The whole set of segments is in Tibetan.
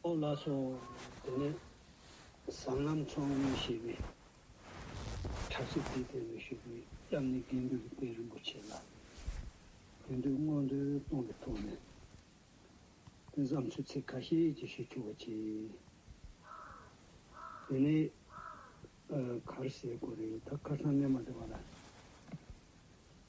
ཨོ་བླ་སོགས་དེ་ནས་ཟངས་ལམ་མཚོ་སྔོན་ཞེས་པའི་བྲག་ཅིག་དེའི་སྟེང་དུ་བཞུགས་པའི་གཡབ་ནི་དགེ་འདུན་རིག་པའི་རིན་པོ་ཆེ་ལ་དགེ་འདུན་མངོན་འདོད་གཏོང་གི་ཐོག་ནས་དུས་མཚམས་ཆུ་ཚོད་ཁ་ཤས་ཀྱི་ཞིག་འཁྱུག་པ་བྱས། དེ་ནས་གར་སའི་སྐོར་རེ་ད་གར་ཚང་སྣེ་མ་བདེ་བ་ལ།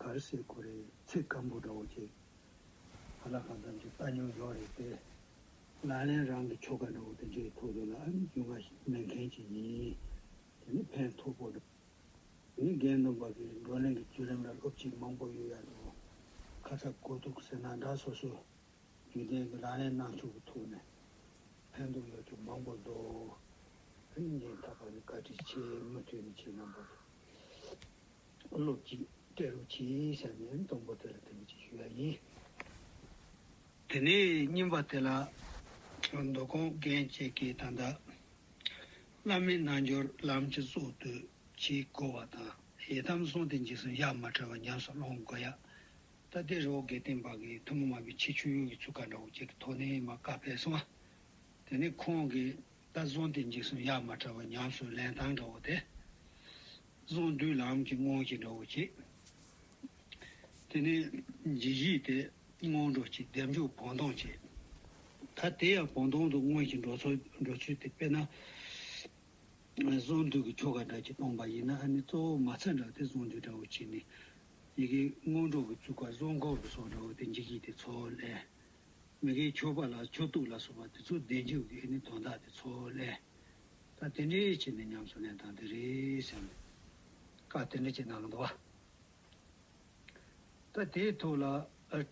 གར་སའི་གོ་རེ་ཚེ་སྐམ་པོ་འདྲ་བོ་བྱེད། ག་ལ་གང་ཙམ་གྱི་ལྟ་མྱོང་ཡོད་རེད་པས། ལ་ལན་རང་གི་ཁྱོ་ག་འདྲ་བོ་དེ་འདྲའི་ཐུགས་རེ་ལ་ཨ་ནི་རྒྱུ་འགའ་ཞིག་སྨིན་མཁན་ཅིག་ཡིན། དེ་ནི་ཕན་ཐོགས་པོ་འདུག་ངས་རྒན་རྣམ་པ་གི་བགྲོ་གླེང་གི་བརྒྱུད་རིམ་ལ་སློབ་ཁྲིད་མང་པོ་ཡོད་ཡ་འདུག་ཁ་ཚ་དགོས་གཏུགས་ཟེར་ན་འདྲ་སོ་སོའི་རྒྱུན་ལྡན་གྱི་ལ་ལན་གནང་ཕྱོགས་ཀྱི་ཐུགས་ནས་ཕན་ཐོགས་ཡོད་ཚུལ་མང་པོ་འདུག་ཨ་ནི་རྒན་ཐ་པ་ནི་བཀའ་ཁྲི་ཆེས་མུ་མཐུད་ནས་བྱེད་རྣམ་པ་རེད། ལོ་གཅིག་སྤྲེལ་ལོ་གཅིག་བྱས་ནས་གཏོང་སྒོ་དེ་ལ་དེ་བས་ཀྱིས་ཞུ་ཡ་ཡིན། དེ་ནས་རྙིང་པ་དེ་ལ་མདོ་ཁོང་རྒན་བཅས་ཀྱིས་ད་ལྟ་བླ་མའི་རྣལ་འབྱོར་ལམ་གྱི་སྲོག་བསྡུ་བྱེད་བསྐོ་བ་དང་ཡི་དམ་གསུང་སྟེ་འཇིགས་གསུམ་གཡག་མ་བྲལ་བ་ཉམས་སུ་སློང་དགོས་ཡ། ད་ལྟའི་རི་བོ་དགེ་ལྡན་པ་གིས་ཐུན་མོང་མ་བུའི་ཆེ་ཆུང་ཡུལ་གྱི་ཚུལ་ཁ་འདྲ་བོ་བཅས་ཀྱི་ཐོག་ནས་མ་བཀའ་ཕེབས་སོང། དེ་ནས་ཁོང་གིས་ད་གསུང་སྟེ་འཇིགས་གསུམ་གཡག་མ་བྲལ་བ་ཉམས་སུ་ལེན་སྟངས་འདྲ་བོ་དེ། གསང་འདུས་ལམ་གྱི་སྔོན་གྱི་འགྲོ་བ་བྱེད། དེ་ནས་རྗེ་བཞིའི་དེ་སྔོན་འགྲོ་བྱེད་བདེ་མཆོག་བོང་སྟོང་བྱེད། ད་དེ་ཡང་བོང་སྟོང་དུ་སྔོན་གྱི་འགྲོ་ཚུལ་དེ་དཔེར་ན། གསང་འདུས་ཀྱི་ཆོ་ག་འདྲ་གྱི་སྟོང་པ་ཡིན་ན་ནི་གཙོ་བོ་མ་ཚད་འདྲ་དེ་གསང་འདུས་འདྲ་བོ་བྱེད་ནས། ཡི་གེ་སྔོན་འགྲོ་གི་བཅུ་ཀ་གསང་འཁོར་གྱི་སོགས་འདྲ་བོ་དེ་རྗེ་བཞིའི་དེ་ཚོགས་ལས། མི་དགེའི་ཆོས་པ་ལ་ཆོས་གཏུགས་ལ་སོགས་པ་དེ་ཚོ་བདེ་མཆོག་གི་ནི་དོན་དག་དེ་ཚོགས་ལས། ད་དེ་འདྲའི་ཆེད་ནས་ཉམས་སུ་ལེན་སྟངས་དེ་རེད་བསམ་ནས་བཀའ་དེ་འདྲ་བྱེད་སྣང་གི་འདུག་ད་དེའི་ཐོག་ལ་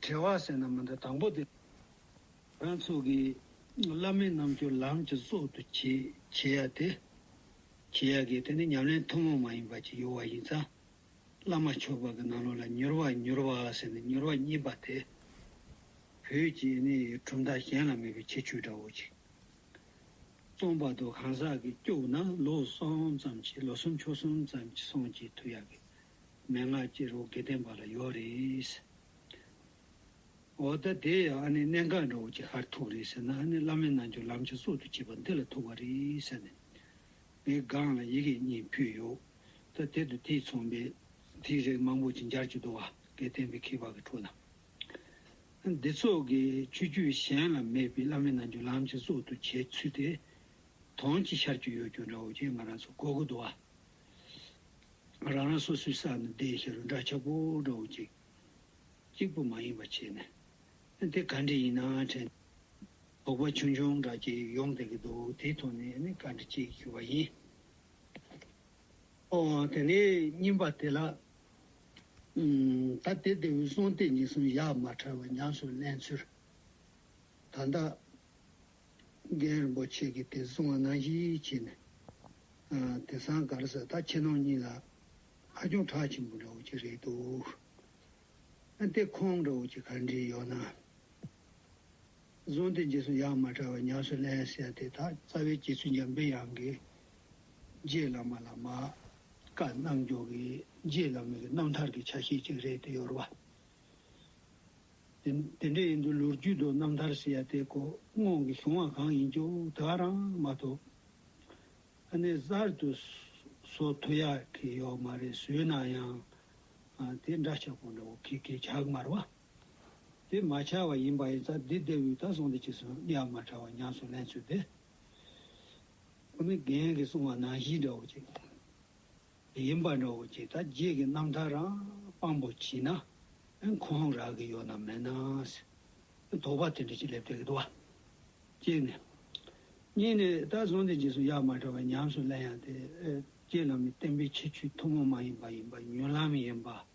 དྲི་བ་ཟེར་ན་མི་འདུག་དང་པོ་དེ། རང་ཚུགས་ཀྱི་བླ་མའི་རྣམ་འགྱུར་ལམ་གྱི་གཙོ་དུ་བྱེད་ཡ་དེ་བྱེད་ཡ་གི་དེ་ནི་ཉམས་ལེན་ཐུན་མོང་མ་ཡིན་པ་ཅིག་ཡོད་བ་ཡིན་ཙང་བླ་མ་མཆོག་དཔལ་གྱི་རྣ་ལུང་ལ་མྱུར་བ་མྱུར་བ་ཟེར་ནས་མྱུར་བ་སྙིམ་པ་དེ་བོད་ཀྱི་གྲུབ་མཐའ་གཞན་ལ་མེད་པའི་ཁྱད་ཆོས་འདྲ་བོ་ཅིག་སྟོང་བར་དུ་གང་ཟག་གི་སྐྱོབ་ན་ལོ་གསུམ་ཙམ་གྱིས་ལོ་གསུམ་ཕྱོགས་གསུམ་ཙམ་གྱི་སོང་གྱིས་དུ་ཡ་གི་མན་ངག་ཅི་རོ་དགེ་ལྡན་པ་ལ་ཡོད་རེད། འོ་ད་དེ་ཡང་ཨ་ནི་གནད་འགག་འདྲ་བོ་ཅིག་ཧར་ཐུག་རེད་ཟེར་ན་ཨ་ནི་བླ་མའི་རྣལ་འབྱོར་ལམ་ཆ་གསུག་ཏུ་བྱེད་པ་འདི་ལ་ཐུག་པ་རེད་ཟེར་ནས་ངའི་སྒང་ལ་ཡི་གེ་གཉིས་ཕུལ་ཡོད། ད་དེ་དང་དེའི་ཚོང་པས་དེའི་རིགས་མང་པོ་ཅིག་འབྱར་གྱི་འདུག་ཨ་དགེ་ལྡན་པའི་ཁྱི་ཕག་གི་ཁྲོད་ན། འདི་ཚོགས་ཀྱི་ཆོས་བརྒྱུད་གཞན་ལ་མེད་པའི་བླ་མའི་རྣལ་འབྱོར་ལམ་གྱི་གཙོ་དུ་བྱས་ཚུལ་དེ་དོན་གྱི་ཤར་གྱི་ཡོད་རྒྱུ་འདྲ་བོ་ཅིག་ང་རང་ཚོ་གོ་གི་འདུག་ཨ། རང་རང་སོ་སོའི་ས་ནས་བདེ་གཤེགས་རུ་འདྲ་ཆགས་པོ་འདྲ་བོ་ཅིག་གཅིག་པུ་མ་ཡིན་པ་བྱས་ནས་དེ་ག་འདྲས་ཡིན་ནའང་དྲན་ཏེ་དོགས་པ་ཆུང་ཆུང་འདྲ་ཅིག་ཡོང་བསྡད་ཀྱི་འདུག་དེའི་ཐོག་ནས་ནི་བཀའ་འདྲི་བྱེད་ཞུ་བ་ཡིན། ཨོ། དེ་ནས་རྙིང་པ་དེ་ལ་ད་དེ་དེ་འོད་སྲུང་སྟེ་ཉིད་གསུམ་གཡག་མ་ཁྲ་བོ་ཉམས་སུ་ལེན་ཚུལ། ད་ལྟ། རྒན་རིན་པོ་ཆེ་གིས་དེ་གསུང་བ་ནང་བཞིན་བྱས་ནས། དེ་ཟངས་དཀར་ཟེར་ད་ཁྱེད་རྣམས་གཉིས་ལ་ཧ་ཅང་གྲགས་ཆེན་པོ་འདྲ་བོ་ཅིག་རེད་འདུག། ཨ་ཏི་ཁོང་འདྲ་བོ་ཅིག་ག་འདྲས་ཡོད་ན། བཟུང་སྟེ་རྗེས་སུ་ཡང་མ་བྲལ་བར་ཉམས་སུ་ལེན་ཟེར་ཏེ་དག་རྩ་བའི་རྗེ་བཙུན་འཇམ་པའི་དབྱངས་ཀྱིས། རྗེ་བླ་མ་ལ་མ་བཀའ་གནང་མགྱོགས་ཀྱིས་རྗེ་བླ་མའི་རྣམ་ཐར་གྱི་ཆ་ཤས་ཅིག་རེད་དེ་ཡོར་བ། དེ་འདྲས་ཡིན་དུ་ལོ་རྒྱུས་དང་རྣམ་ཐར་ཟེར་ཡ་དེ་གོ་སྔོག་གིས་བཟུང་བ་གང་ཡིན་ཀྱང་དེ་ག་རང་མ་གཏོགས། ཨ་ནེ་གསར་དུ་བཟོ་ཐུབ་ཡག་གི་ཡོག་མ་རེད་བཟོས་ན་ཡང་དེ་འདྲ་ཆགས་པོ་འདྲ་བོ་ཁེ་ཁེ་ཆགས་མར་བ། དེ་མ་ཆགས་བ་ཡིན་པ་ཡིན་ཙང་འདི་ལྟེ་བའི་ད་སོང་འདི་ཕྱི་སོང་གཉའ་མ་ཕྲ་བ་ཉམས་སུ་ལེན་ཚུལ་དེ། ཁོ་ནི་རྒན་གྱིས་གསུང་བ་ནང་བཞིན་འདྲ་བོ་ཅིག་ཡིན་པ་འདྲ་བོ་ཅིག་ད་རྗེས་ཀྱི་རྣམ་ཐར་རང་དཔང་པོ་བྱས་ན་འཁོང་རག་གི་ཡོད་ནམ་མེད་ནའང་སྲིད། དོགས་པ་དེ་འདྲ་ཅིག་སླེབས་སྡད་ཀྱི་འདུག་བ། གཅིག་ནས། གཉིས་ནས་ད་སོང་འདི་ཕྱི་སོང་གཉའ་མ་ཕྲ་བ་ཉམས་སུ་ལེན་ཡང་དེ་རྗེས་ལམ་ནས་བསྟན་པའི་ཁྱད་ཆོས་ཐུན་མོང་མ་ཡིན་པ་ཡིན་པ་ཉོན་ལམ་ཡིན་པ།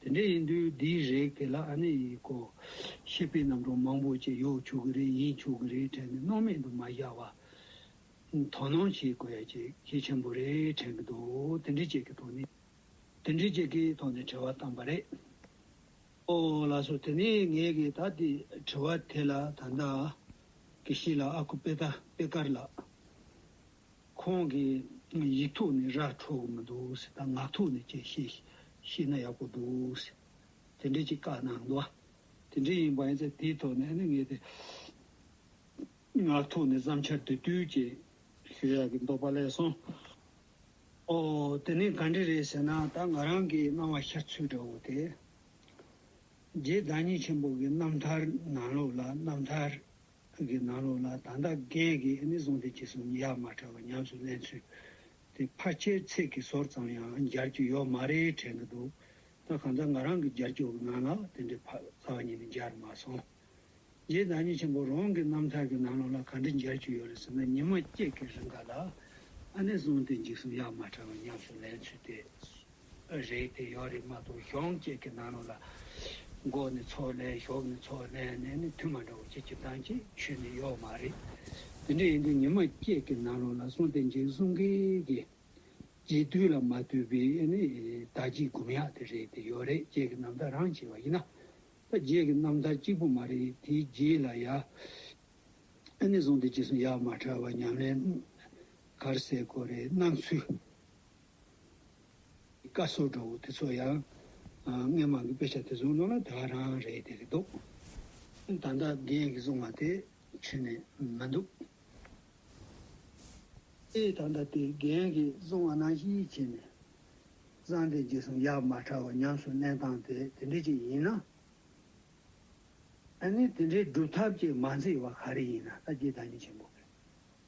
དེ་འདྲ་ཡིན་དུས་འདིའི་རེག་དེ་ལ་ཨ་ནེ་ཡིས་ཀོ། ཤེས་པའི་རྣམ་གྲངས་མང་པོ་ཅིག་ཡོད་ཆོག་གི་རེད་ཡིན་ཆོག་གི་རེད་དྲན་ནས་སྣང་མེད་དུ་མ་བཞག་པར། དོ་སྣང་བྱེད་དགོས་ཡ་ཅིག་གལ་ཆེན་པོ་རེད་དྲན་གྱི་འདུག་དེ་འདྲི་བྱེད་ཀྱི་ཐོག་ནས། དེ་འདྲི་བྱེད་ཀྱི་ཐོག་ནས་དྲི་བ་བཏང་པ་རེད། ཨོ་ལགས་སོ་དེ་ནས་ངས་གི་ད་དེ་དྲི་བ་དེ་ལ་ད་ལྟ། གི་ཤི་ལ་ཨ་ཁུ་པེ་ད་པེ་ཀར་ལགས། ཁོང་གིས་ཡིག་ཐོག་ནས་ར་འཕྲོད་གི་མི་འདུག་ཟེར་ད་ངག་ཐོག་ནས་ཀྱང་བཤད་ཤེས་ན་ཡག་པོ་འདུག་ཟེར། དེ་འདྲའི་ཅིག་བཀའ་གནང་འདུག་དེ་འདྲའི་ཡིན་པ་ཡིན་ཚེ་དེའི་ཐོག་ནས་ནི་ངས་དེ་ངག་ཐོག་ནས་བསམ་འཆར་དེ་བསྡུས་རྗེས་ཞུ་ཡག་གི་འདུག་པ་ལས་སོང། ཨོ་དེ་ནི་ག་འདྲི་རེད་ཟེར་ན་ད་ང་རང་གི་སྣང་བ་ཤར་ཚུལ་འདྲ་བོ་དེ། རྗེ་བདག་ཉིད་ཆེན་པོ་གི་རྣམ་ཐར་ནང་ལུགས་ལ་རྣམ་ཐར་ཁུལ་གྱི་ནང་ལོགས་ལ་ད་ལྟ་རྒན་གྱིས་ཨ་ནེ་བཟུང་སྟེ་ཅི་གསུང་ཡ་མ་བྲལ་བར་ཉམས་སུ་ལེན་ཚུལ་དེ་ཕར་ཆེར་ཚིག་གི་ཟོར་ཙམ་ཡང་སྦྱར་རྒྱུ་ཡོད་མ་རེད་དྲན་གྱི་འདུག་ད་གང་ལྟར་ང་རང་གི་སྦྱར་རྒྱུ་ནང་ལ་དེ་འདྲའི་ཕ་རྩ་བ་ཉིད་ནས་སྦྱར་མ་སོང། རྗེ་བདག་ཉིད་ཆེན་པོ་རང་གི་རྣམ་ཐར་གྱི་ནང་ལོགས་ལ་ག་འདྲ་སྦྱར་རྒྱུ་ཡོད་རེད་ཟེར་ན་ཉི་མ་སྐྱེས་ཀྱི་རིང་ག་ལ་ཨ་ནེ་བཟུང་སྟེ་འཇིགས་གསུང་ཡ་མ་བྲལ་བར་ཉམས་སུ་ལེན་ཚུལ་དེ་རེད་དེ་ཡོད་རེད་མ་གཏོགས་གཞོན་སྐྱེས་ཀྱི་ནང་ནང་ལ་མགོ་ནས་ཚོགས་ལས་གཞོགས་ནས་ཚོགས་ལས་ནས་ནི་དུས་མ་འདྲ་བ་ཅི་ཅི་བཏང་ཅི་ཆོད་ནི་ཡོད་མ་རེད། དེ་འདྲ་ཡིན་དུས་ཉི་མ་སྐྱེས་ཀྱི་ནང་ནང་ལ་སོང་སྟེ་འཇིགས་གསུང་གི་གི། རྗེས་དུས་ལ་མ་ལྟོས་པའི་ནི་ད་ཅིག་སྒུམ་ཡག་དེ་རེད་དེ་ཡོད་རེད་རྗེས་ཀྱི་རྣམ་ཐར་རང་བྱས་པ་ཡིན་ན། ད་རྗེས་ཀྱི་རྣམ་ཐར་གཅིག་པུ་མ་རེད་དེའི་རྗེས་ལ་ཡ། ཨ་ནི་སོང་སྟེ་ཅི་གསུང་ཡག་མ་ཕྲ་བ་ཉམས་ལེན་གར་སེ་གོ་རེ་གནང་ཚུལ། བཀའ་ཟུར་འགྲོ་བོ་དེ་ཚོ་ཡང་སྔས་མང་གི་དཔེ་ཆ་དེ་ཚོ་ནང་ན་དེ་བ་རང་རེད་དེ་རེད་འདུག་ད་ལྟ་རྒན་གི་གསུང་བ་དེ་ཆུད་ནས་མི་འདུག་ཨེ་ད་ལྟ་དེ་རྒན་གི་གསུང་བ་ནང་ཞིག་བྱས་ནས་བསམ་དེ་རྗེས་སུ་ཡར་མར་ཁྲ་བོ་ཉམས་སུ་གླེང་སྟངས་དེ་དེ་འདྲས་ཅིག་ཡིན་ན་ཨ་ནི་དེ་འདྲའི་སྒྲུབ་ཐབས་ཅིག་མ་མཛད་བ་ག་རེ་ཡིན་ན་ད་རྒྱའི་བདག་ཉིད་ཆེན་པོ་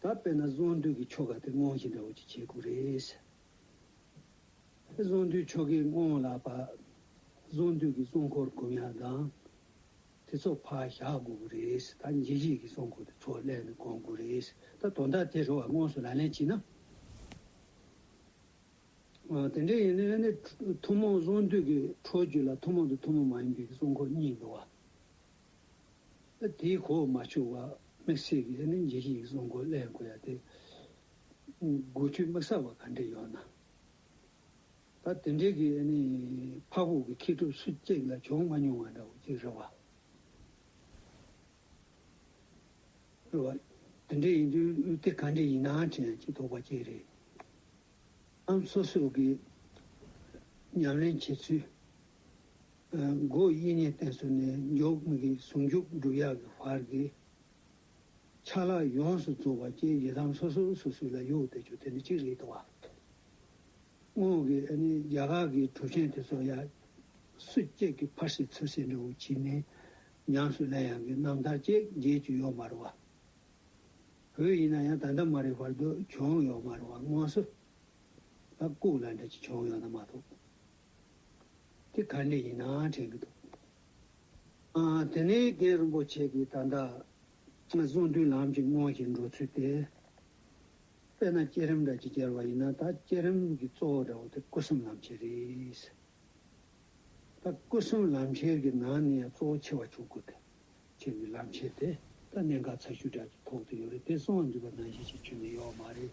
ད་དཔེར་ན་བཟོ་འདུས་ཀྱི་ཆོ་ག་དེ་སྔོན་བཞིན་འདྲ་བོ་ཅིག་བྱེད་དགོས་རེད། བཟོ་འདུས་ཆོ་གའི་སྔོན་ལ་བཟོ་འདུས་ཀྱི་གཙོ་འཁོར་དགུ་མྱང་དང། དེ་ཚོ་ཕར་བཞག་དགོས་ཀྱི་རེད། ད་འཇིགས་བྱེད་ཀྱི་གཙོ་འཁོར་དེ་ཚོ་གླས་ནས་དགོངས་དགོས་རེད། ད་དོན་དག་དེ་རེ་བ་དངོས་སུ་ལག་ལེན་བྱས་ན། དེ་འདྲ་ཡིན་ན་ནི་ཐུན་མོང་བཟོ་འདུས་ཀྱི་འཕྲོ་རྒྱུད་ལ་ཐུན་མོང་དང་ཐུན་མོང་མ་ཡིན་པའི་གཙོ་འཁོར་གཉིས་འདུ་བ། དེའི་གོ་བ་མ་ཆོད་བར་དམིགས་བསལ་གྱི་གླེང་གཞི་ཞིག་བཟོ་འགོ་གླེང་དགོས་ཡ་དེ། དགོས་ཚུལ་དམིགས་བསལ་བ་ག་འདྲས་ཡོད་ན། ད་དེ་འདྲས་ཀྱི་ཕག་ཕུག་གི་མཁས་གྲུབ་སུ་གཅིག་ལ་བྱུང་མ་མྱོང་བ་འདྲ་བོ་ཅིག་རེད་བ། རེད་བ། དེ་འདྲས་ཡིན་དུས་དེ་ག་འདྲས་ཡིན་ནའང་དྲན་གྱི་དོགས་པ་ཅིག་རེད་ཨང། སོ་སོས་ཀྱི་ཉམས་ལེན་བྱེད་ཚུལ། སྒོ་དབྱེ་ཉེས་གཏན་སྲོལ་ནས་མགྱོགས་མི་དགེའི་ཟུང་འཇུག་བསྒྲུབ་ཡག་གི་བར་གྱི་ཆ་ལག་ཡོངས་སུ་རྫོགས་པ་བཅས་ཡི་དམ་སོ་སོ་སོ་སོའི་ལ་ཡུག་སྟེ་ཆོས་དེ་ནི་གཅིག་རེད་དོ། དངོས་ཀྱི་རྒྱ་གར་གྱི་གྲུབ་ཆེན་དེ་ཚོ་ཡང་སུ་སྐྱེས་ཀྱི་ཕར་ཟེར་ཚུར་ཟེར་འདྲ་བོ་བྱེད་ནས་ཉམས་སུ་ལེན་ཡག་གི་རྣམ་ཐར་བཅས་རྒྱས་བཅུ་ཡོག་མ་རུ་བ། བོད་ཡིན་ན་ཡང་ད་ལྟ་མ་རེད་བར་དུ་བྱུང་ཡོག་མ་རུ་བ་དངོས་སུ་ལ་ལྐུག་ལ་འདྲ་ཅིག་བྱུང་ཡོག་ན་མ་གཏོགས། དེ་ག་ནས་ཡིན་ནའང་དྲན་གྱི་འདུག་ཨ། དེ་ནས་རྒན་རིན་པོ་ཆེ་གིས་ད་ལྟ་གསུང་དུས་ལམ་གྱི་སྔོན་གྱི་འགྲོ་ཚུལ་དེ། དཔེར་ན་བསྐྱེད་རིམ་འདྲ་གཅིག་གྱར་བ་ཡིན་ན་ད་བསྐྱེད་རིམ་གྱི་གཙོ་བོ་འདྲ་བོ་དེ་སྐུ་གསུམ་ལམ་ཁྱེར་རེད། ད་སྐུ་གསུམ་ལམ་ཁྱེར་གྱི་ནང་ནས་ཡང་གཙོ་བོ་ཆེ་བ་ཆོས་སྐུ་དེ་ཁྱེར་བའི་ལམ་ཁྱེར་དེ་ད་གནད་འགག་ཚ་ཤུལ་དྲག་གི་ཐོག་ཏུ་ཡོད་རེད་དེ་གསང་བ་འདུས་པ་ནང་བཞིན་ཞིག་ཁྱོན་ནས་ཡོད་མ་རེད།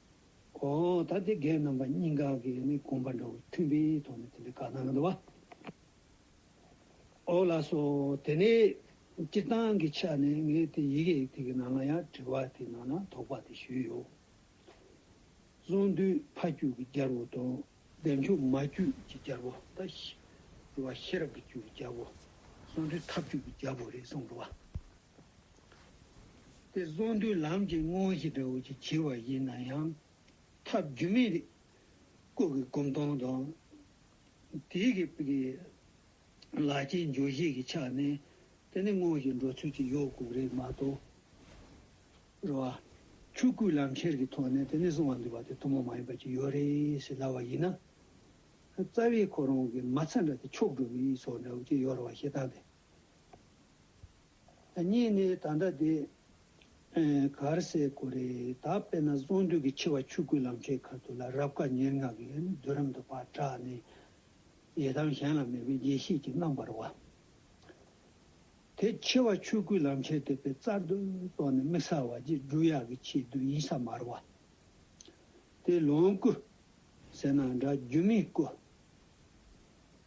ཨོ། ད་དེ་སྒེག་རྣམ་པ་གཉིས་འགག་གི་ནི་དགོངས་པ་འདྲ་བོ་མཐུན་པའི་ཐོག་ནས་དེ་འདྲའི་བཀའ་གནང་གི་འདུག་བ། ཨོ་ལགས་སོ། དེ་ནས་སྤྱིར་བཏང་གི་ཆ་ནས་ངས་དེ་ཡི་གེ་དེ་གི་ནང་ལ་ཡང་དྲི་བ་དེ་ནང་ལ་དོགས་པ་དེ་ཞུས་ཡོད། གསུངས་དུས་ཕ་རྒྱུད་ཀྱི་རྒྱལ་པོ་དང། བདེ་མཆོག་མ་རྒྱུད་ཀྱི་རྒྱལ་པོ་དང། ཤི་བ་ཤེས་རབ་ཀྱི་རྒྱུད་ཀྱི་རྒྱལ་པོ། གསུངས་དུས་ཐབས་རྒྱུད་ཀྱི་རྒྱལ་པོ་རེད་གསུངས་འདུག་བ། དེ་གསུང་མདོའི་ལམ་གྱི་དངོས་གཞི་འདྲ་བོ་ཞིག་བྱེད་པ་ཡིན་ན་ཡང། ཐབས་རྒྱུ་མེད་རིགས་སྐོར་གྱི་སྒོམ་སྟོང་དང། དེའི་གི་པའི་ལག་ཁྱེར་འཇུག་བཞེས་ཀྱི་ཆ་ནས་དེ་ནི་དངོས་གཞི་འགྲོ་ཚུལ་གྱི་ཡོད་དགུ་རེད་མ་གཏོགས། རེ་བ། ཆོས་སྐུའི་ལམ་ཁྱེར་གྱི་ཐོག་ནས་དེ་ནི་གསུང་བ་འདུས་པ་དེ་ཐུན་མོང་མ་ཡིན་པ་ཅིག་ཡོད་རེད་ཞེས་ལབ་པ་ཡིན་ན། རྩ་བའི་ཁོ་རང་གི་མ་ཚ་འདྲ་དེ་ཕྱོགས་སྒྲུབ་མི་ཡི་ཚོགས་འདྲ་བོ་ཅིག་ཡོད་རེ་བ་ཞེ་སྡང་དེ། གཉིས་ནི་ད་ལྟ་དེ་གར་སའི་གོ་རེ་ད་དཔེར་ན་གསུང་འདུས་ཀྱི་ཆེ་བ་ཆུ་སྐུད་ལམ་ཁའི་ཁ་ཐུག་ལ་རབ་དཀའ་ཉེར་ལྔ་གི་བསྡུ་རམ་དུ་བག་གྲགས་ནི་ཡི་དམ་གཞན་ལ་མེད་པའི་ཡེ་ཤེས་ཀྱི་རྣམ་པར་བ། དེ་ཆེ་བ་ཆུ་སྐུད་ལམ་ཁའི་དེད་དཔོན་རྩལ་དུ་རྟོགས་ནས་དམིགས་བསལ་བ་རྗེས་སྒྲུབ་ཡག་གི་ཆེས་བསྡུ་ཡིན་ས་མར་བ། དེ་ལོངས་སྐུ། ཟེར་ན་འདྲ་རྒྱུ་མའི་སྐུ།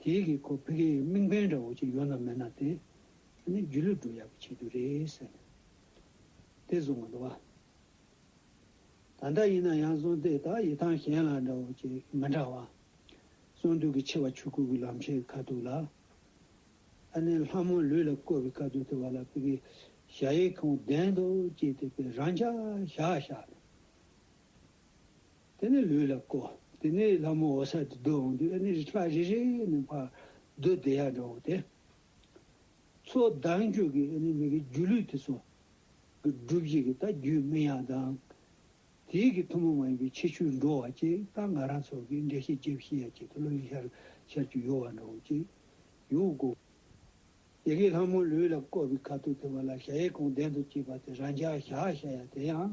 དེའི་གི་ཁོ་བྷི་གྷི་ཡི་དམིགས་འབེན་འདྲ་བོ་ཅིག་ཡོད་ན་མེད་ན་དེ་དེ་ནི་རྒྱུས་ལུས་འགྲོ་ཡག་པོ་བྱེད་རྒྱུ་རེད་ཟེར་ནས་དེ་བཟུང་བ་འདུག་བ། ད་ལྟ་ཡིན་ན་ཡང་བཟུང་དེ་དག་ཡི་ཐང་གཞན་ལ་འདྲ་བོ་ཅིག་མི་འདྲ་བ། བཟུང་དུས་ཀི་ཆེ་བ་ཆུ་ཁུག་གི་ལམ་ཆེད་ཁ་ཐུག་ལ། ཨ་ནེ་ལྷ་མོ་ལུས་ལ་བསྐོར་བའི་ཁ་ཐུག་དེ་བ་ལ་བྷི་གྷི་ཞྭ་ཡི་ཁོང་བདེན་འདུག་ཅེས་དེ་བས་རང་འཇགས་བཞག་བཞག་ནས། དེ་ནས་ལུས་ལ་བསྐོ། དེ་ནས་ལྷ་མོ་འོ་ས་དེ་བསྡུ་འོང་དུས་ཨེ་ནི་རི་ཁྲག་རེ་རེ་ནས་འཕར། བདུད་སྡེ་ཡར་འགྲོ་འོང་སྟེ། ཚོགས་བདག་མཆོད་ཀྱི་ཨེ་ནི་མི་གི་སྒྱུ་ལུས་དེ་སོགས། ཀྱི་སྒྲུབ་བྱེད་ཀྱི་ད་རྒྱུད་སྨིན་ཡང་དང། དེའི་གི་ཐུན་མོང་མ་ཡིན་པའི་ཆེ་ཆུའི་འགྲོ་བ་ཅེས་རྟ་རྔ་ར་སོགས་ཀྱི་འགྲེལ་བཤད་བརྒྱད་བཞི་ཡ་གཅིག་ཏུ་བློ་ཡིས་ཤར་ཤར་གྱི་ཡོལ་བ་འགྲོ་འོང་ཅེས་ཡོལ་བུ་བསྐོ། ཡེ་གེ་ལྷ་མོ་ལུས་ལ་བསྐོ་བའི་ཁ་ཐུག་དེ་བ་ལ་ཞལ་ཡས་ཁོང་གདན་དུ་བཅིབས་པ་དེ་རང་འཇག་ཞག་ཞག་ཡ་དེ་ཡང།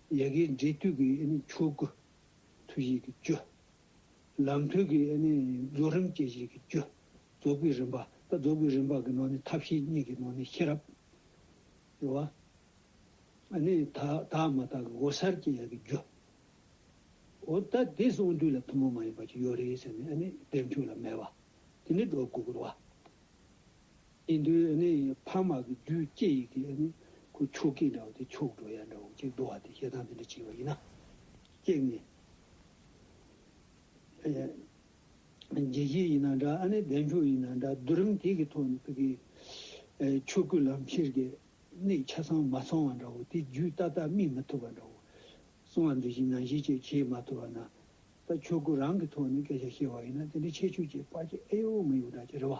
ཡི་གེ་འབྲི་དུས་ཀྱི་ཆོས་སྐུ་ཐུགས་ཡིད་ཀྱི་སྤྱོད། ལམ་དུས་ཀྱི་རྫོགས་རིམ་སྐྱེ་བཞི་ཀྱི་སྤྱོད། རྫོགས་པའི་རིམ་པ་དང་རྫོགས་པའི་རིམ་པ་གྱི་ནང་ནས་ཐབས་ཤེས་གཉིས་ཀྱི་ནང་ནས་ཤེས་རབ། རེ་བ། དག་མ་དག་གི་འོད་གསལ་སྐྱེ་ཡི་གི་རྒྱུ། འོ་ད་དེ་སོང་དུས་ལ་ཐུན་མོང་མ་ཡིན་པ་ཅིག་ཡོད་རེད་ཟེར་ནས་དེ་འཁྲུལ་ལ་མེད་པ། དེ་ནི་སྒྲོ་སྐུར་བ། ཨིན་དུའི་ནི་ཕ་མ་གི་རྒྱུའི་སྐྱེ་ཡི་གི་ནི་ཁུ་ཕྱུགས་ཀྱི་འདྲ་བ་དེ་ཕྱུགས་འགྲོ་ཡ་འདྲ་བ་གཅིག་བསྡུ་བ་དེ་ཞེ་སྡང་དེ་འདྲ་གཅིག་བ་ཡིན་ན། ཀྱེག་ནི། རྒྱལ་སྐྱེས་ཡིན་ན་འདྲ་ཨ་ནི་བདེ་མཆོག་ཡིན་ན་འདྲ་བསྡུ་རིམ་དེ་གི་ཐོག་ནས་ཕི་གི། ཆོས་སྐུ་ལམ་ཁྱེར་གི་ནི་ཆ་ཚང་མ་ཚང་བ་འདྲ་བོ་དེ་རྒྱུད་ཏག་ཏག་སྨིན་མི་ཐུབ་པ་འདྲ་བོ། གསང་བ་འདི་བཞིན་ནང་བཞིན་བཅས་བྱེད་མ་ཐུབ་པ་ན། ད་ཆོས་སྐུ་རང་གི་ཐོག་ནས་སྐད་ཆ་བཤད་བ་ཡིན་ན་དེ་འདྲ་ཆེ་ཆུ་བཅས་དཔའ་བྱེད་ཨེ་ཡོད་མི་ཡོད་འདྲ་ཅི་རེད་བ།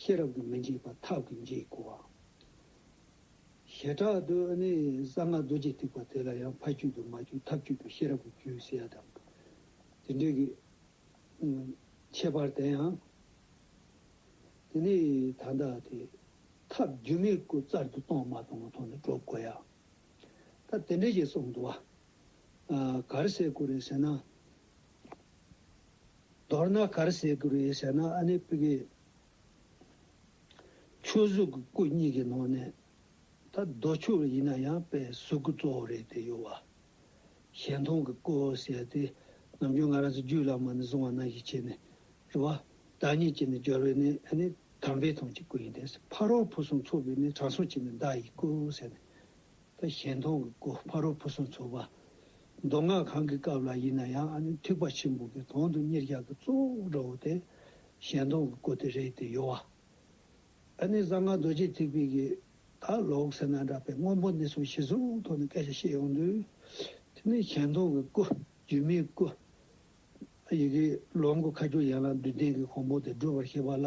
ཤེས་རབ་ཏུ་མི་འཇིགས་པ་ཐབས་ཀྱིས་འཇིག་གོ། བྱེ་བྲག་ཏུ་ནི་གསང་སྔགས་རྡོ་རྗེ་ཐིགས་པ་དེ་ལ་ཡང་ཕ་རྒྱུད་དུ་མ་རྒྱུད་ཐབས་རྒྱུད་དུ་ཤེས་རབ་ཀྱི་རྒྱུད་ཟེར་ཡ་དང། དེ་འདྲའི་གི། ཁྱད་པར་དེ་ཡང། དེ་ནི་ད་ལྟ་དེ། ཐབས་རྒྱུད་མི་དགོས་རྩལ་དུ་གཏོང་མ་གཏོང་མ་ཐོག་ནས་སྒྲོག་གོ་ཡ། ད་དེ་འདྲའི་ཞེས་གསུངས་འདུག་བ། གར་སའི་སྐུ་རེད་ཟེར་ན། མདོར་ན་གར་བྱེད་དགུ་རེ་བྱས་ན་ཨ་ནེ་པི་ཀའི་ཆོས་གཟུགས་ཀྱི་སྐུ་གཉིས་ཀྱི་ནང་ནས་ད་རྡོ་ཆོས་རེ་ཡིན་ན་ཡང་དཔེ་གཟུགས་སྐུ་གཙོ་བོ་རེད་དེ་གཡོ་བ་གཞན་མཐོང་གི་སྐུ་ཟེར་ཏེ་ནམ་རྒྱུན་ང་རང་ཚོ་རྒྱུད་བླ་མ་ནས་བཟུང་བ་ན་ཞིག་བྱས་ནས་རེ་བ་བདག་ཉིད་ཀྱི་ནས་སྦྱོར་བའི་ནས་ཨ་ནེ་དམ་པའི་དོན་གྱི་སྐུ་ཡིན་ཏེ་ཕ་རོལ་བུ་གསུམ་ཚོགས་པའི་ནས་དྲང་སྲོང་གྱི་ནས་བདག་ཡིག་སྐུ་ཟེར་ནས། དང་ཞལ་མཐོང་གི་སྐུ་ཕ་རོལ་བུ་སོགས་འཚོགས་པ། མདོ་སྔགས་གང་གི་སྐབས་ལ་ཡིན་ན་ཡང་ཨ་ནི་ཐེག་པ་ཆེན་པོ་གི་དོན་དུ་གཉེར་བཞག་གི་གཙོ་བོ་འགྲོ་བ་སྟེ་ཞལ་མཐོང་གི་སྐུ་དེ་རེད་དེ་གཡོ་བ། ཨ་ནི་གསང་སྔགས་རྡོ་རྗེ་ཐེག་པའི་གི་ད་ལོག་ཟེར་ན་འདྲ་པའི་སྔོན་པོ་འདི་ཚོ་གཞི་བཟུང་ཐོག་ནས་སྐད་ཆ་བཤད་ཡོང་དུས། དེ་ནི་ཞལ་མཐོང་གི་སྐུ། སྒྱུ་མའི་སྐུ། ཡི་གེ་ལོངས་སྐུ་ཁ་སྦྱོར་ཡན་ལག་བདུན་ལྡན་གྱི་གོང་པོ་དེ་སྒྲུབ་པར་བྱེད་པ་ལ།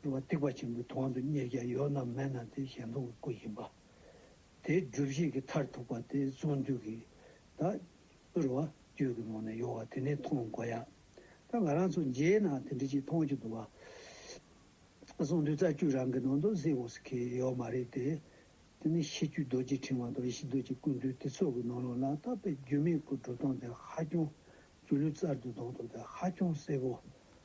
འགྲོ་བ་སྡིག་པ་ཆེན་པོའི་དོང་དུ་གཉེར་རྒྱ་ཡོད་ནམ་མེད་ན་དེ་གཞན་སྟོང་གི་སྐུ་ཡིན་པ། དེའི་སྒྲུབ་བྱེད་ཀྱི་མཐར་ཐུག་པ་དེ་གཟུངས་འདུས་ཀྱི་དག། བསྐུར་བ་རྒྱུད་ཀྱི་ངོ་ནས་ཡོང་བ་དེ་ནི་མཐོང་དགོས་ཡ། ད་ང་རང་ཚོ་མཇལ་ན་དེ་འདྲི་ཅིག་མཐོང་རྒྱུ་འདུག་བ། གཟུངས་འདུས་རྩ་རྒྱུད་རང་གི་ནང་དུ་གཟིགས་འོས་སུ་ཁེལ་ཡོད་མ་རེད་དེ། དེ་ནི་ཤེས་རྒྱུད་རྡོ་རྗེ་འཕྲེང་བ་དང་ཡེ་ཤེས་རྡོ་རྗེ་སྐུ་འདུས་དེ་ཚོ་གི་ནང་ལོག་ན་ད་པའི་རྒྱུད་མེད་སྐུ་འགྲོ་སྟངས་དེ་ཧ་ཅང་རྒྱུ་ལུས་རྩར་དུ་ལྡོག་འདུག་དེ་ཧ་ཅང་གསལ་པོ་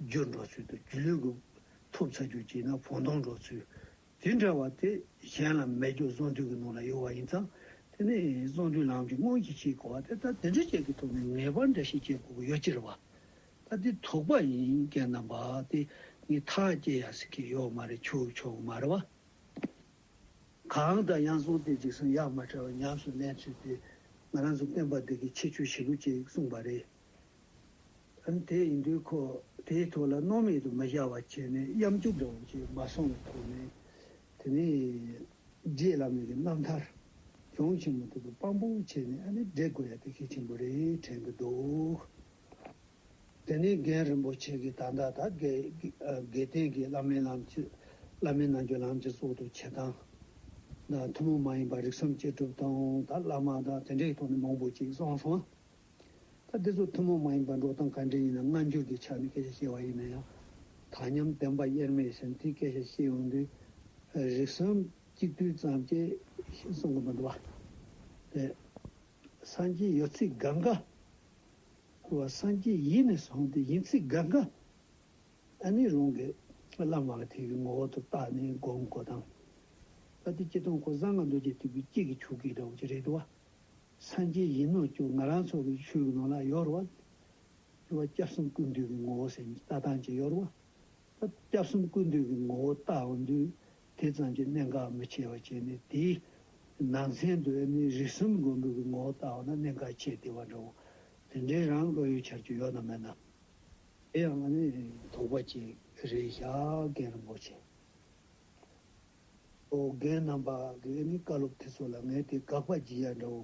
རྒྱུ་འགྲོ་ཚུལ་དུ་རྒྱུ་ལུས་འགུགས། ཐོབ་ཚ་རྒྱུ་བསྐྱེད་ན་བོང་སྟོང་འགྲོ་ཚུལ། དེ་འདྲ་བ་དེ་གཞན་ལ་མེད་རྒྱུ་གཟུངས་འདུས་ཀྱི་ནང་ལ་ཡོད་བ་ཡིན་ཙང་དེ་ནི་གཟུངས་འདུས་ལམ་གྱི་སྔོན་གྱི་ཕྱིའི་གོ་བ་སྟེ་ད་དེ་འདྲ་བཅས་ཀྱི་ཐོག་ནས་ངེས་པར་འདྲ་ཞིག་བསྐྱེད་དགོས་ཀྱི་ཡོད་ཅེས་རེ་བ། ད་དེ་དོགས་པ་ཡིན་སྐད་ནམ་བག་སྟེ་ངས་ཐག་བཅད་ཡ་ཟིག་གི་ཡོད་མ་རེད་ཆུག་ཆོག་མ་རེད་བ། གང་ལྟར་ཡང་གཟུངས་དེ་འཇིགས་སམ་ཡང་མ་བྲལ་བར་ཉམས་སུ་ལེན་ཚུལ་དེ་ང་རང་ཚོ་བསྟན་པ་འདི་གའི་ཁྱད་ཆོས་ཞིག་ལོ་ཅེས་གསུངས་པ་རེད། ཨང་དེ་ཡིན་དུས་ཁོ་དེའི་ཐོག་ལ་སྣང་མེད་དུ་མི་བཞག་བར་བྱས་ནས་གཡམ་རྒྱུག་འདྲ་བོ་ཞིག་མ་སོང་བའི་ཐོག་ནས། དེ་ནས་རྗེ་བླ་མེད་ཀྱི་རྣམ་ཐར་ལྗོངས་ཆེན་མོ་དེ་དུ་དཔང་པོ་བྱས་ནས་ཨ་ནི་བསྒྲིག་དགོས་ཡ་དེ་གལ་ཆེན་པོ་རེད་དྲན་གྱི་འདུག་དེ་ནས་རྒན་རིན་པོ་ཆེ་གིས་ད་ལྟ་ད་གེ་དགེ་བསྟན་གྱི་བླ་མའི་ལམ་གྱི་བླ་མའི་ནང་གྱི་ལམ་གྱི་གཙོ་དུ་བྱེད་སྟངས་དང་ཐུན་མོང་མ་ཡིན་པ་རིགས་སམ་བཅད་གྲུབ་དང་ད་བླ་མ་དང་དེ་འདྲའི་ཐོག་ནས་མང་པོ་ཅིག་གསང་སྔགས། ད་འདི་ཚོ་ཐུན་མོང་མ་ཡིན་པར་འགྲོ་སྟངས་ག་འདྲས་ཡིན་ན་སྔ་འགྱུར་གྱི་ཆ་ནས་སྐད་ཆ་བཤད་པ་ཡིན་ན་ཡང། དག་མཉམ་བདེན་པ་དབྱེར་མེད་ཞེན་དུས་སྐད་ཆ་བཤད་ཡོང་དུས། རིགས་གསུམ་གཅིག་བསྡུས་ཙམ་གྱིས་ཤིང་གསུམ་གྱི་མི་འདུག་བ། དེ། སངས་རྒྱས་ཡོད་ཚིག་དགག་འགའ། འཁོར་བ་སངས་རྒྱས་ཡིད་ནས་བཟུང་སྟེ་ཡིན་ཚིག་དགག་འགའ། ཨ་ནི་རང་གི་བླ་མ་ལ་དེ་གི་ངོ་བོ་དུ་བཏགས་ནས་བསྒོམ་དགོས་སྟངས། ད་འདི་སྐྱིད་སྟོང་ཁོ་བཟང་ང་འདུག་ཅེས་དུས་ཀྱི་སྐྱིད་ཀྱི་ཆུ་སྐྱིད་འདྲ་བོ་ཅི་རེད་འདུག་བ། སངས་རྒྱས་ཡིན་ནོ་ཅོག་ང་རང་ཚོ་གི་ཆོས་ཀྱི་ནང་ལ་ཡོར་བ། ཅོག་སྐྱབས་གསུམ་ཀུན་འདུས་ཀྱི་ངོ་བོ་སེམས་ཀྱི་ལྟ་སྟངས་ཀྱི་ཡོར་བ། ད་སྐྱབས་གསུམ་ཀུན་འདུས་ཀྱི་ངོ་བོ་ལྟ་བ་འདུས་དེ་ཙམ་གྱི་གནད་འགག་མི་ཆེ་བ་བྱས་ནས་དེའི་ནང་ཚན་དུ་ཨེ་མི་རིགས་གསུམ་མགོན་པོ་གི་ངོ་བོ་ལྟ་བ་ན་གནད་འགག་ཆེས་དེ་བ་འདྲ་བོ་དེ་འདྲའི་རང་བློ་ཡོད་འཆར་རྒྱུ་ཡོད་ནམ་མེད་ནམ། དེ་ཡང་ང་ནི་དོགས་པ་ཅིག་རེད་ཤག་རྒན་རིན་པོ་ཆེ། ཨོ་རྒྱན་རྣམ་པ་གིས་ནི་བཀའ་སློབ་དེ་ཚོ་ལ་ངས་དེ་དགག་པ་བགྱིས་ཡ་འདྲ་བོ།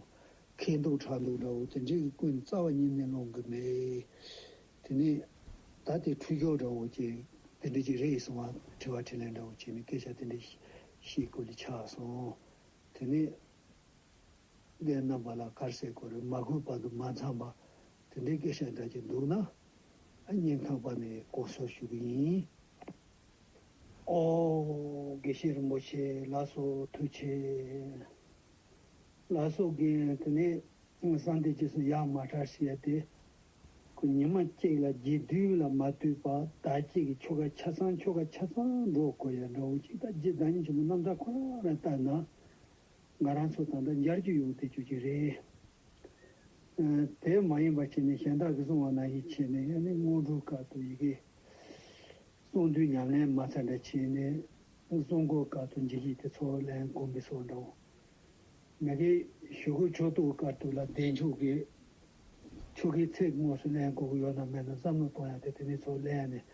མཁས་འདུག་དྲག་འདུག་འདྲ་བོ་དེ་འདྲའི་གི་ཀུན་རྩ་བ་ཉིད་ནས་སློང་གི་མེད། དེ་ནས་ད་དེ་འཁྲུལ་འཁྱོར་འདྲ་བོ་ཅན་དེ་འདྲ་ཅིག་རེད་གསུང་བ་དྲི་བ་དྲི་ལན་འདྲ་བོ་བྱས་ནས་སྐད་ཆ་དེ་འདྲ་ཤེས་ཀུ་ལི་ཆགས་སོང། དེ་ནས་ཨོ་རྒྱན་རྣམ་པ་ལ་དཀར་ཟས་སྐོར་རེ་མ་གོས་པར་དུ་མ་འཚམས་པ་དེ་འདྲའི་སྐད་ཆ་འདྲ་ཅིག་འདུག་ན། ཨ་སྙིང་ཐང་པ་ནས་ལྐོག་གསོད་ཞུ་གི་ཡིན། ཨོ། དགེ་བཤེས་རིན་པོ་ཆེ་ལགས་སུ་ཐུགས་ཆེ། ལགས་སོ་དགེ་དེ་ནས་གསང་སྟེ་རྗེས་སུ་ཡ་མ་བྲ་ཞིག་ཡ་སྟེ། ཁོ་ཉི་མ་གཅིག་ལ་རྗེ་བདུན་ལ་མ་ལྟོས་པར་ཟླ་གཅིག་གི་ཆོ་ག་ཆ་ཚང་ཆོ་ག་ཆ་ཚང་འགྲོ་དགོས་ཡ་འདྲ་འོ་ཅིག་ད་རྗེ་བདག་ཉིད་ཆེན་པོ་རྣམ་གྲངས་ཁོ་རང་ལ་བལྟ་ན། ང་རང་ཚོ་ད་ལྟ་འབྱར་རྒྱུ་ཡོང་སྟེ་བཅུག་གི་རེད། དེ་མ་ཡིན་པར་བྱས་ནས་གཞན་དག་གིས་གསུང་བ་ན་ཡིད་ཆེས་ནས་ཡ་ནི་དངོས་གྲུབ་བཀའ་དུ་ཡི་གེ། ཚོགས་འདུའི་ཉམས་ལེན་མ་ཚར་འདྲ་བྱས་ནས་གསུང་སྐོར་བསྐལ་དུ་འཇིགས་ཤིག་དེ་ཚོ་ལན་དགོངས་པའི་སོགས་འདྲའོ། མེ་དགེ་ཞུ་གུ་ཕྱོགས་གཏོགས་བསྐལ་དུ་ལ་བདེ་མཆོག་གི་ཆོ་གའི་ཚེས་དངོས་སུ་ལན་གོ་གི་ཡོད་ནམ་མེད་ནམ་བསམ་བློ་གཏོང་ཡ་དེ་དེ་ནས་ཚོ་ལན་ནས་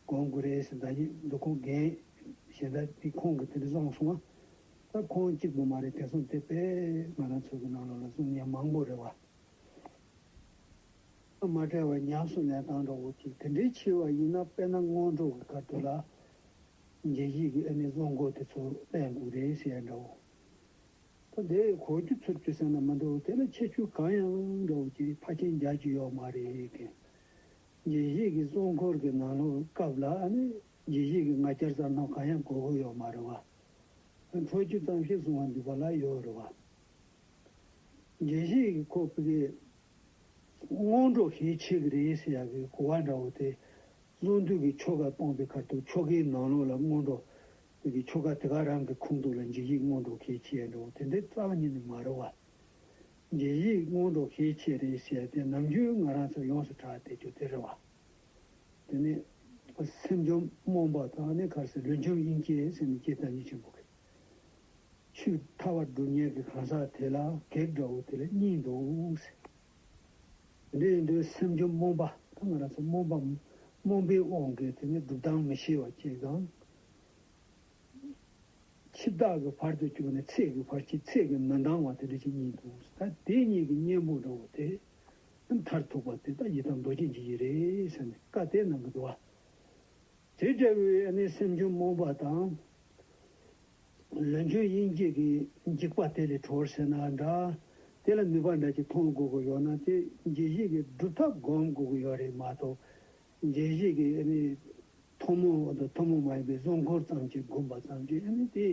དགོངས་དགོས་རེད་ཟེར་ཟླ་གཉིས་འདུག་ཁོང་རྒན་གཞན་དག་གིས་ཁོང་གི་དེ་འདྲ་བསམ་སོང་ང་ད་ཁོང་གཅིག་པུ་མ་རེད་དེ་སོང་དེ་པས་ང་རང་ཚོ་གི་ནང་ལོག་ལ་གསུང་སྙན་མང་པོ་རེད་བ། མ་བྲལ་བར་ཉམས་སུ་ལེན་སྟངས་འདྲ་བོ་གཅིག་དེ་འདྲའི་ཆེ་བ་ཡིན་ན་དཔེར་ན་སྔོན་འགྲོ་གི་སྐབས་དེ་ལ་རྗེས་གཞིག་གི་ཨེ་ནི་བློ་འགོག་དེ་ཚོ་བསྟན་དགོས་རེད་ཟེར་ཡ་འདྲ་བོ། ད་དེ་གོ་རྒྱུ་ཚུར་བཅུག་ས་ན་མི་འདུག་དེ་ལ་ཁྱད་ཆོས་གང་ཡང་འདྲ་བོ་གཅིག་ཕར་ཕྱིན་རྒྱག་རྒྱུ་ཡོག་མ་རེད་གི། རྗེས་གཞིག་གི་བློ་འཁོར་གི་ནང་ལོག་སྐབས་ལ་ཨ་ནི་རྗེས་གཞིག་གི་ང་རྒྱལ་ཙམ་ནང་གང་ཡང་དགོས་དགོས་ཡོག་མ་རེད་བ། འཕྲོ་རྒྱུ་ཙམ་ཞིག་གསུང་བ་འདུས་པ་ལ་ཡོག་རེད་བ། རྗེས་གཞིག་གི་ཁོ་པི་གས་སྔོན་འགྲོ་ཞེས་ཆེ་གེ་རེའི་སྲས་ཡག་གེའི་གོ་བ་འདྲ་བོ་དེ། རླུང་དུས་ཀྱི་ཆོ་ག་སྤངས་པའི་ཁར་དུ་ཆོ་གའི་ནང་ལོགས་ལ་སྔོན་འགྲོ། དུས་ཀྱི་ཆོ་ག་དེ་ག་རང་གི་ཁུངས་གཏུགས་ལ་འཇིགས་ཡིག་སྔོན་འགྲོ་ཞེས་ཆེ་ཡག་འདྲ་བོ་དེ་འདི་རྩ་བ་ཉིད་ནས་མ་རུང་བ། འཇིགས་ཡིག་སྔོན་འགྲོ་ཞེས་ཆེ་རེའི་སྲས་ཡག་དེ་ནམ་རྒྱུན་ང་རང་ཚོས་ཡོངས་སུ་གྲགས་ཏེ་རྒྱུ་དེ་རེད་བ། དེ་ནི། སེམས་བཅོམ་རྨོངས་པ་དང་ནི་གར་སའི་ལུས་འཇོམས་དབྱིངས་སྐྱེས་སེམས་ནི་སྐྱེས་དང་ཉིད་ཆེན་པོ་གི། ཆུ་ཐར་བ་འབྲུ་གཉན་གྱི་གང་ཟག་དེ་ལ་བགེགས་འདྲ་བོ་དེ་ལ་གཉིས་འདུག། འདི་ཡིན་དུས་སེམས་ཅན་རྨོངས་པ་དང་ང་རང་ཚོ་རྨོངས་པ། རྨོངས་པའི་དབང་གིས་དེ་ནི་སྒྲུབ་སྟངས་མི་ཤེས་པ་བཅས་དང། འཆི་བདག་གི་བར་དུ་གྱུར་ནས་ཚེགས་ཀྱི་བར་གྱིས་ཚེགས་ཀྱི་མི་འདང་བ་དེ་འདྲ་ཅིག་གཉིས་འདུག་ད་དེ་གཉིས་ཀྱི་གཉེན་པོ་འདྲ་བོ་དེ་ནི་མཐར་ཐུག་པ་དེ་ལྟ་ཡི་དམ་རྡོ་རྗེ་འཇིགས་བྱེད་རེད་བསམ་ནས་བཀའ་གཏད་གནང་གི་འདུག་ཨ། དེ་འདྲ་བའི་ཨ་ནི་སེམས་ཅན་རྨོངས་པ་དང། ལོན་ཆོས་དབྱིངས་སྐྱེས་ཀྱི་འཇིགས་པ་དེ་ལས་གྲོལ་བར་བྱས་ན་འདྲ། དེ་ལ་ནུས་པ་འདྲ་གཅིག་མཐོང་དགོས་ཀྱི་ཡོད་ན་དེ་རྗེས་གཞིག་གི་སྒྲུབ་ཐབས་བསྒོམ་དགོས་ཀྱི་ཡོད་རེད་མ་གཏོགས། རྗེས་གཞིག་གི་ཐུན་མོང་དང་ཐུན་མོང་མ་ཡིན་པའི་གཟུངས་འཁོར་ཙམ་གྱིས་བསྒོམ་པ་ཙམ་གྱིས་དེ་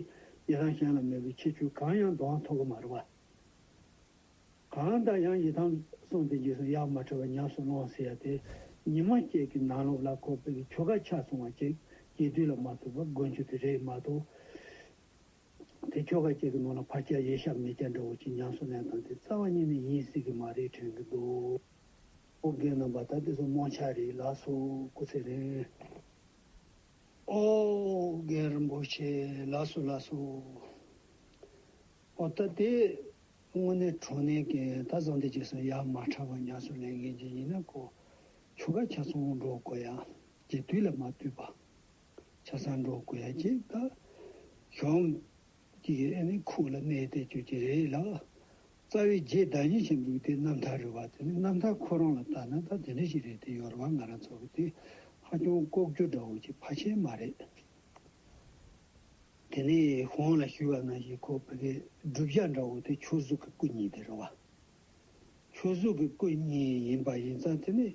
ཡི་རང་གཞན་ལ་མོས་པའི་ཁྱད་ཆོས་གང་ཡང་དོགས་ཐུབ་ཀྱི་མ་རེད་བ། གང་དག་ཡང་ཡི་དམ་གསུངས་ཏེ་རྗེས་སུ་ཡང་མ་ཁྲོས་པར་ཉམས་སུ་བླངས་ཟེར་ཡ་དེ་ཉི་མ་སྐྱེས་ཀྱི་ནང་ལོགས་ལ་ཁོ་བོས་ཆོ་ག་ཆ་ཚང་བ་ཅིག་གྱིས་དུས་ལ་མ་ཐུག་པར་མགོན་ཆུ་དེ་རེག་མ་ཐུབ། དེ་ཆོ་ག་ཅིག་གི་ནང་ལ་བར་སྐྱ་ཡེ་ཤ་མེ་སྐྱ་འདྲ་བོ་ཅིག་ཉམས་སུ་ལེན་དང་དེ་རྩ་བ་ཉིད་ནས་ཡིན་སྲིད་ཀྱི་མ་རེད་དྲན་གྱི་འདུག། ཨོ་རྒྱན་རྣམ་པ་དག་དེ་ཚོ་རྨོངས་ཆ་རེད་ལགས་སོ་སྐུ་ཚེ་རིང། ཨོ་རྒྱན་རིན་པོ་ཆེ་ལགས་སོ་ལགས་སོ། ཨོ་ད་དེ། དངོས་གནས་གྲོ་ནས་ཀྱིས་ད་བཟང་དེ་རྗེས་སུ་ཡ་མ་ཁྲ་བ་ཉག་སུ་ལེན་མཁན་གྱི་ཡིན་ན་ཀོ། ཆུ་ཁ་ཆ་ཚོང་འགྲོ་དགོས་ཡ། ཀྱི་དུས་ལ་མ་བཏུས་པ། ཆ་ཚང་འགྲོ་དགོས་ཡ་ཀྱི་ད། གཞོམ། ཀྱི་ཨེ་ནི་ཁུག་ལ་གནས་ཏེ་བརྗོད་ཀྱི་རེད་ལགས། རྩ་བའི་རྗེས་བདག་ཉིད་ཅིག་འདུག་དེ་རྣམ་ཐར་རེད་བ་དེ་ནི་རྣམ་ཐར་ཁོ་རང་ལ་བལྟ་ན་ད་དེ་འདྲ་ཞིག་རེད་དེ་ཡོ་ར་བ་ང་རང་ཚོ་གི་དེ་ཧ་ཅུང་ལྐོག་གྱུར་འདྲ་བོ་ཅིག་ཕ་ཆེན་མ་རེད། དེ་ནས་གོང་ལ་ཞུས་པ་ན་ཞེས་ཁོ་བོ་དགེ་སྒྲུབ་ཤ་འདྲ་བོ་དེ་ཆོས་གཟུགས་ཀྱི་སྐུ་ཉིད་དེ་རེད་བ། ཆོས་གཟུགས་ཀྱི་སྐུ་ཉིད་ཡིན་པ་ཡིན་ཙང་དེ་ནས་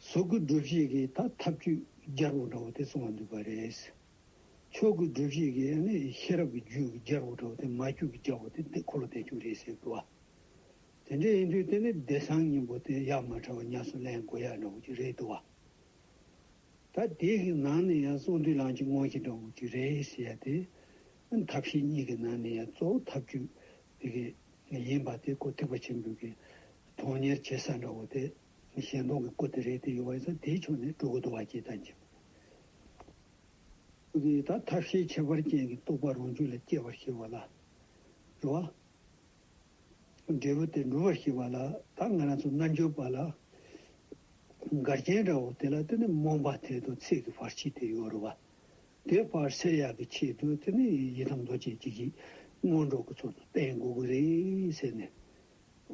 གཟུགས་ཀྱི་སྒྲུབ་བྱེད་ཀྱི་ད་ཐབས་ཇུས་རྒྱལ་པོ་འདྲ་བོ་དེ་གསུངས་བ་འདུག་པ་རེད། ཆོས་ཀྱི་སྒྲུབ་བྱེད་ཀྱི་ནི་ཤེས་རབ་ཀྱི་ཇུས་རྒྱལ་པོ་འདྲ་བོ་དེ་མ་རྒྱུད་ཀྱི་རྒྱལ་པོ་དེ་འདི་འཁོར་ལོ་བདེ་མཆོག་རེད་ཟེར་གི་བ། དེ་འདྲ་ཡིན་དུས་དེ་ནི་བདེ་གསང་སྙིང་པོ་དེ་ཡ་མ་བྲལ་བ་ཉམས་སུ་ལེན་དགོས་ཡ་འདྲ་བོ་ཅིག་རེད་འདུག་བ། ད་དེ་གི་ནང་ནས་ཡང་ཙོང་ཏུའུ་ལང་གཅིག་སྔོན་གྱི་འགྲོ་འགོ་གཅིག་རེད་ཞེས་ཡ་དེ། ཐབས་ཤེས་གཉིས་ཀྱི་ནང་ནས་ཡང་གཙོ་བོ་ཐབས་ཇུས་དེ་གི་ཡིན་པ་དེ་ཀོ་ཐིག་པ་ཆེན་པོའི་གི་གྲོང་གཉེར་བྱེད་ས་འགྲོ་འགོ་དེ་གཞན་སྟོང་གི་ཀོ་དེ་རེད་དེ་ཡོད་པ་ཡིན་ས་དེའི་ཕྱོགས་ནས་གྲོ་གུ་དུ་བ་སྐྱེ་ཐ་འཇིག་པ་དེ། ད་ཐབས་ཤེས་ཁྱད་པར་ཅན་གྱི་རྟོག་པ་རང་རྒྱུད་ལ་སྐྱེ་བར་བྱེད་པ་ལ་རོ། འབྲས་བུ་དེ་འགྲུབ་པར་བྱེད་པ་ལ་ད་ང་རང་ཚོ་རྣལ་འབྱོར་པ་ལ་འགལ་རྐྱེན་འདྲ་བོ་དེ་ལ་དེ་ནི་རྨོངས་པ་དེ་དང་ཚིག་གི་བར་ཆད་དེ་ཡོད་རེད་བ། དེ་བར་སེལ་ཡག་གི་ཆེད་དུ་དེ་ནི་ཡི་དམ་རྡོ་རྗེ་འཇིགས་བྱེད་སྔོན་འགྲོ་གི་ཚོགས་སུ་བསྟེན་དགོས་ཀྱི་རེད་ཟེར་ནས།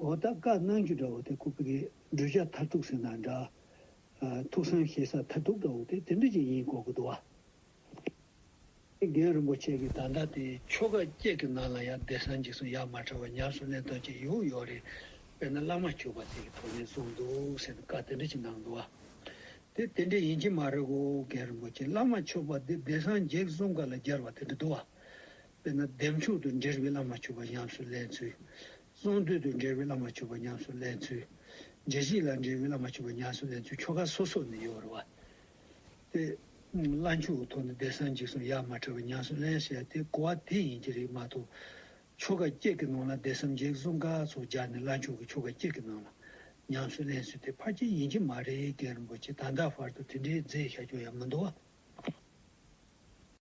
འོ་ད་བཀའ་གནང་རྒྱུ་འདྲ་བོ་དེ་ཁོ་བོ་གའི་བསྒྲུབ་བྱ་མཐར་ཐུག་ཟེར་ན་འདྲ། ཐུགས་བསམ་བཞེས་ས་མཐར་ཐུག་འདྲ་བོ་དེ་དེ་འདྲ་ཅིག་ཡིན་དགོས་ཀྱི་འདུག་བ། ཨེ་རྒན་རིན་པོ་ཆེ་གི་དང་འདྲ་སྟེ། ཆོ་ག་བརྒྱད་ཀྱི་ནང་ལ་ཡང་བདེ་གསང་འཇིགས་གསུམ་ཡར་མར་བྲལ་བ་ཉམས་སུ་ལེན་དོན་གྱི་ཡུལ་ཡོད་རེད། དཔེར་ན་བླ་མ་བཅུ་པ་ཟིག་གི་ཐོག་ནས་བཟུང་འདུག་ཟེར་ནས་བཀའ་དེ་འདྲ་ཅིག་གནང་འདུག་ཨ། དེ་དེ་འདྲ་ཡིན་གྱི་མ་རེད་གོ་ཨེ་རྒན་རིན་པོ་ཆེ་བླ་མ་མཆོག་པ་འདི་བདེ་གསང་འཇིགས་གསུམ་ག་ལ་སྦྱར་བ་དེ་འདྲ་འདུག་ཨ། དཔེར་ན་ལྡེམ་ཕྱུག་ཏུ་འདྲེར་བའི་བླ་མ་བཅུ་པ་ཉམས་སུ་ལེན་ཚུལ། གསང་འདུས་ཏུ་འདྲེར་བའི་བླ་མ་བཅུ་པ་ཉམས་སུ་ལེན་ཚུལ། རྗེ་གཞིས་ལ་འདྲེར་བའི་བླ་མ་བཅུ་པ་ཉམས་སུ་ལེན་ཚུལ་ཆོ་ག་སོ་སོ་ནས་ཡོད་རེད་བ། ཏེ། བླ་མཆོད་ཀྱི་ཐོག་ནས་བདེ་གསང་འཇིགས་གསུམ་ཡར་མར་ཁྲོས་པ་ཉམས་སུ་ལེན་བྱས་ཏེ་བསྐོར་བ་དེ་ཡིན་གྱི་རིགས་མ་གཏོགས། ཆོ་ག་བསྐྱེད་ཀྱི་ནང་ལ་བདེ་གསང་འཇིགས་གསུམ་ག་ཚོགས་སྦྱར་ནས་བླ་མཆོད་ཀྱི་ཆོ་ག་བསྐྱེད་ཀྱི་ནང་ལ་ཉམས་སུ་ལེན་ཚུལ་དེ་ཕར་ཆེར་ཡིན་གྱི་མ་རེད་རྒན་རིན་པོ་ཆེ་ད་ལྟ་བར་དུ་དེ་འདྲའི་རྫས་ཤ་ཅུང་ཡང་མི་འདུག་བ།